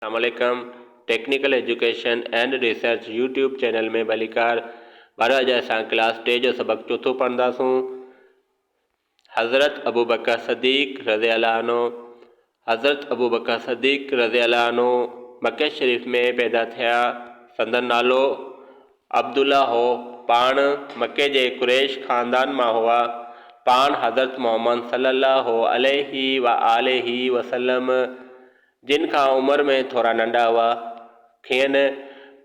اسلام عليڪم technical education and research YouTube channel ۾ ڀليڪار ڀر اڄ اسان ڪلاس ٽي جو سبق چوٿون پڙهنداسون حضرت ابوبڪر صديق رضي الله عنه حضرت ابوبڪر صديق رضي الله عنه مکي شريف ۾ پيدا ٿيا سندن نالو عبدالله هو، پاڻ مڪي جي قريش خاندان مان هئا، پاڻ حضرت محمد صلّي اللّٰه عليه واٰله وسلّم جن کان عمر ۾ ٿورا ننڍا هئا، کين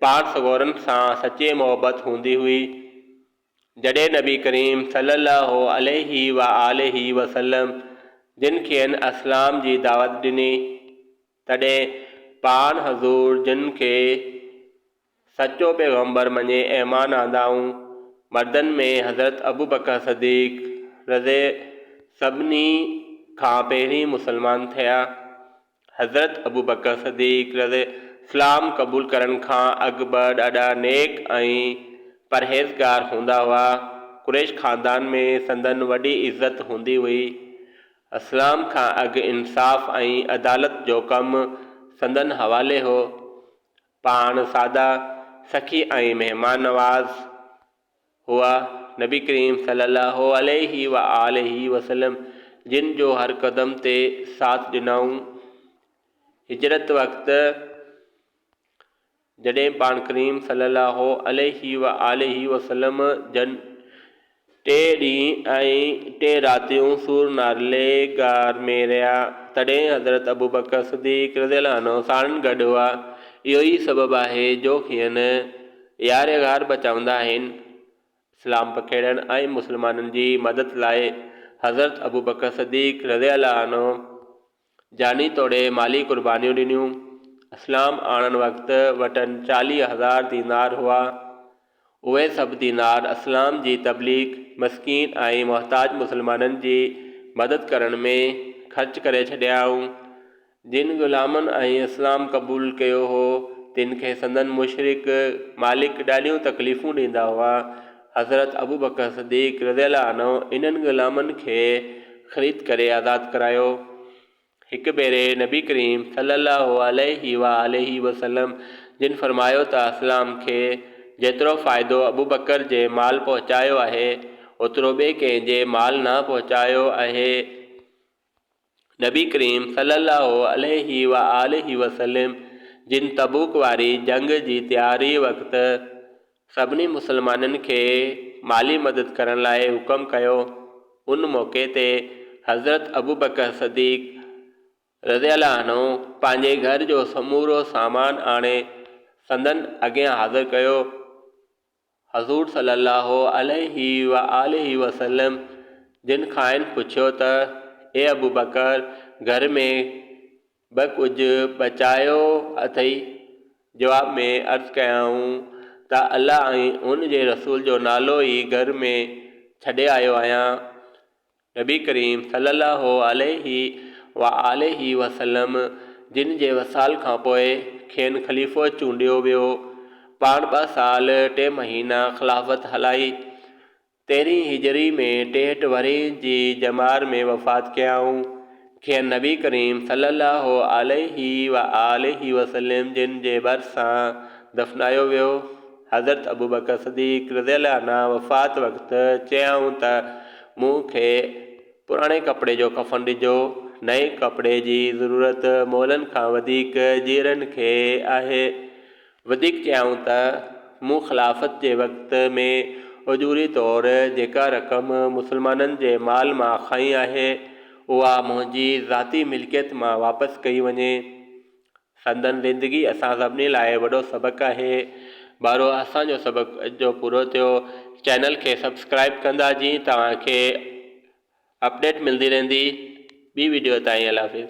پاڻ سڳورن سان سچي محبت هوندي هئي، جڏهن نبي ڪريم صلّي اللّٰه عليه واٰله وسلّم جن کين اسلام جي دعوت ڏني، تڏهن پاڻ حضور جن کي سچو پيغمبر مڃي ايمان آندائون، مردن ۾ حضرت ابوبڪر صديق، رض، سڀني کان پهرين مسلمان ٿيا. حضرت ابوبڪر صديق، رض، اسلام قبول ڪرڻ کان اڳ به ڏاڍا نيڪ ۽ پرهيزگار هوندا هئا. قريش خاندان ۾ سندن وڏي عزت هوندي هئي. اسلام کان اڳ انصاف ۽ عدالت جو ڪم سندن حوالي هو. پاڻ ساده سخي ۽ مهمان نواز هئا. نبي ڪريم صلّي اللّٰه عليه و آله وسلّم جن جو هر قدم تي ساٿ ڏنائون. هجرت وقت جڏهن پاڻ ڪريم صلّي اللّٰه عليه و آله وسلّم جن ٽي ڏينهن ۽ ٽي راتيون سور نالي غار ۾ رهيا، تڏهن حضرت ابوبڪر صديق رضي الله عنه ساڻن گڏ هئا، اهو ئي سبب آهي جو کين يار غار به چوندا آهن. اسلام پکيڙڻ ۽ مسلمانن جي مدد لاء حضرت ابوبڪر صديق رضي الله عنه، جاني توڙي مالي قربانيون ڏنيون. اسلام آڻڻ وقت وٽن چاليهه هزار دينار هئا. اهي سڀ دينار اسلام جي تبليغ، مسڪين ۽ محتاج مسلمانن جي مدد ڪرڻ ۾ خرچ ڪري ڇڏيائون. جن غلامن ۽ اسلام قبول ڪيو هو، تن کي سندن مشرڪ مالڪ ڏاڍيون تڪليفون ڏيندا هئا. حضرت ابوبڪر صديق رضي الله عنه انهن غلامن کي خريد ڪري آزاد ڪرايو. هڪ ڀيري نبي ڪريم صلّي الله عليه واٰله وسلّم جن فرمايو ته اسلام کي جيترو فائدو ابوبڪر جي مال پهچايو آهي، اوترو ٻئي ڪنهن جي مال نه پهچايو آهي. نبي ڪريم صلّي الله عليه و آله وسلّم جن تبوڪ واري جنگ جي تياري وقت سڀني مسلمانن کي مالي مدد ڪرڻ لاء حڪم ڪيو، ان موقعي تي حضرت ابوبڪر صديق رضي الله عنه پنهنجي گهر جو سمورو سامان آڻي سندن اڳيان حاضر ڪيو. حضور صلّي اللّٰه عليه واٰله وسلّم جن کانئن پڇيو ته، اي ابوبڪر! گهر ۾ به ڪجهه بچايو اٿئي؟ جواب ۾ عرض ڪيائون ته الله ۽ ان جي رسول جو نالو ئي گهر ۾ ڇڏي آيو آهيان. نبي ڪريم صلّي اللّٰه عليه واٰله وسلّم جن جي وصال کان پوء کين خليفو چونڊيو ويو. پاڻ ٻه سال ٽي مهينا خلافت هلائي. تيرهين هجري ۾ ٽيهٽ ورهين جي ڄمار ۾ وفات ڪيائون. کين نبي ڪريم صلّي اللّٰه عليه واٰله وسلّم جن جي ڀرسان دفنايو ويو. حضرت ابوبڪر صديق رضي الله عنه وفات وقت چيائون ته مون کي پراڻي ڪپڙي جو ڪفن ڏجو، نئين ڪپڙي جي ضرورت مئلن کان وڌيڪ جيئرن کي آهي. وڌيڪ چيائون ته مون خلافت جي وقت ۾ اجوري طور جيڪا رقم مسلمانن جي مال مان کائي آهي، اها منهنجي ذاتي ملڪيت مان واپس ڪئي وڃي. سندن زندگي اسان سڀني لاء وڏو سبق آهي. بارو اسان جو سبق اڄو پورو ٿيو. چينل کي سبسڪرائيب ڪندا جيئن توهان کي اپڊيٽ ملندي رهندي. ٻي وڊيو تائين الله حافظ.